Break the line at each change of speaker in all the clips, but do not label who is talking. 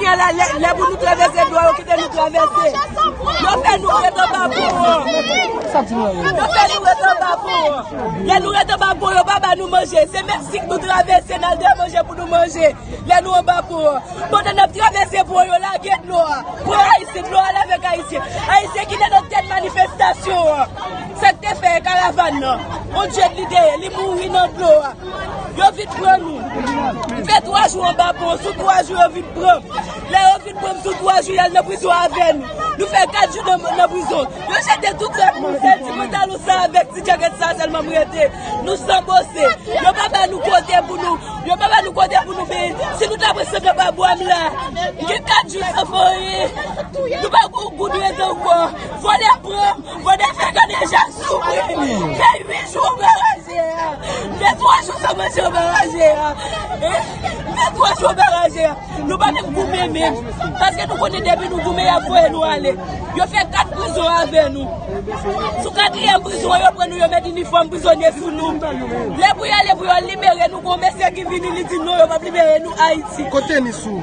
Gen lè lè pou nou travèse dlo a yo kite nou travèse. Yo fè nou ret anba pon an. Yo fè nou ret anba pon an. Lè nou ret anba pon yo pa ba nou manje. Se menm sik nou travèse nan de manje pou nou manje. Lè nou anba pon an. Pandan nap travèse pon yo lage dlo a. Pon a isit dlo a lave ak ayisyen. Ayisyen ki te nan tèt manifestasyon an. Sak te fè karavan nan. On djed li te ye. Li mouri nan dlo a. Yo vin pran nou. M fè 3 jou anba pon. Sou 3 jou yo vin pran m. Lè yo vin pran m sou 3 jou y al nan prizon avè m. Nou fè 4 jou nan prizon. Yo jete tout rad nou. Sèl ti pantalon sa avèk ti djakèt sa sèlman m rete. Nou san bose. Yo pa ba nou kote pou nou. Yo pa ba nou kote pou nou beye. Si nou ta pran sant anba bwa m la. M gen 4 jou san fè anyen. Nou pa gen yon goud rete ankò. Vòlè pran m. Vòlè fè kaneja souvri. M fè 8 jou anba. Gen 3 jou sa manti yo baraje a Gen 3 jou baraje a Nou pa menm goumen menm Paske nou konnen depi nou goumen yap voye nou ale Yo fè 4 prizon avè nou Sou 4 yèm prizon an yo pran nou yo met inifòm prizonye sou nou Lè pou yale pou yo libere nou gon mesye ki vini li di non yo pap libere nou Ayiti Kote misou?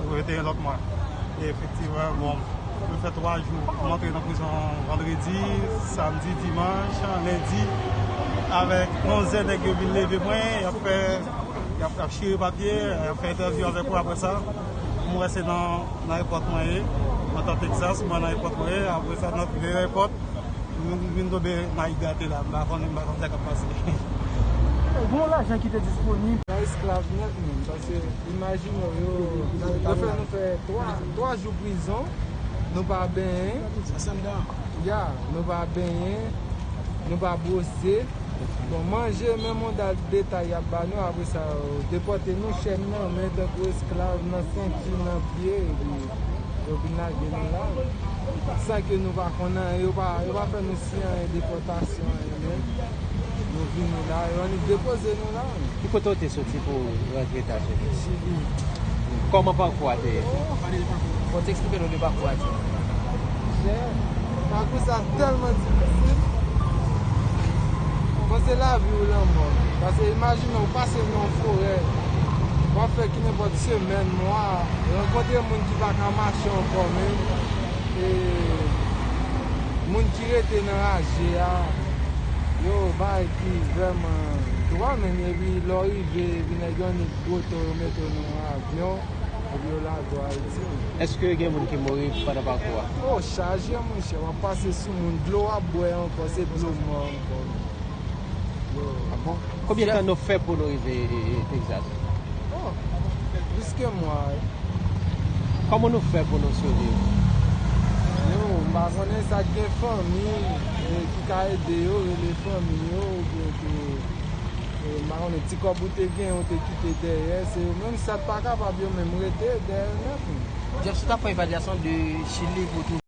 Mwen rete yon lòt mwa. E efektivman, bon, mwen fè 3 jou. Mwen antre nan prizon vandredi, samdi, dimanch, lendi avèk yon zen nèg yo vin leve mwen, y ap fè, y ap chire papye, y ap fè entèvyou avèk ou aprè sa. Mwen wè se nan aepòt mwen ye, mwen nan Texas, mwen nan aepòt mwen ye, aprè sa nan de aepòt, mwen vin tonbe nan Igatela, mwen pa konnen, mwen pa konn sa k ap pase. Gen
yon lajan ki te disponib. Nan esklav nèt menm, paske. Imajine w yo fè nou fè 3 jou prizon, nou pa benyen, nou pa benyen, nou pa bwose, bon manje menm yon dal detay y ap ba nou apre sa yo depòte nou chèn nan men tankou esklav nan senti nan pye epi yo vin lage nou la san ke nou pa konn anyen yo pa fè nou siy anyen depòtasyon anyen menm nou vini la yo annik depoze nou la. Ki kote ou te soti
pou ou rantre Etazini? Kòman pakou a te ye? Bon te eksplike nou de pakou a ti jan.
Pakou sa tèlman difisil. Bon se lavi ou lanmò. Pase imajine ou pase nan yon forè. W ap fè ki nenpòt semèn, mwa. Rankontre moun ki pa ka mache ankò menm. E moun ki rete nan raje a. Yo bay. ki vrèman dwa menm yo epi lè w rive epi nèg yo annik gwote w yo mete w nan yon avyon epi yo lage w Ayiti menm. Eske gen moun
ki mouri pandan pakou a? Oh chaje
monchè wap pase sou moun dlo wap bwè ankò se dlo mò ankò yo. Ah bon?
Konbyen tan nou fè pou nou rive Texas? Oh
plis ke mwa wi.
Kòman nou fè pou nou siviv?
Yo m pa konnen sak gen fanmi. ki ka ede yo, rele fanmi yo oubyen ke m pa konnen ti kòb ou te genyen ou te kite dèyè, se yo menm sa k pa kapab yo
menm
rete
dèyè nèt menm. Jeff,
sou w ta
pran
evalyasyon
de chili
pou
w twouve.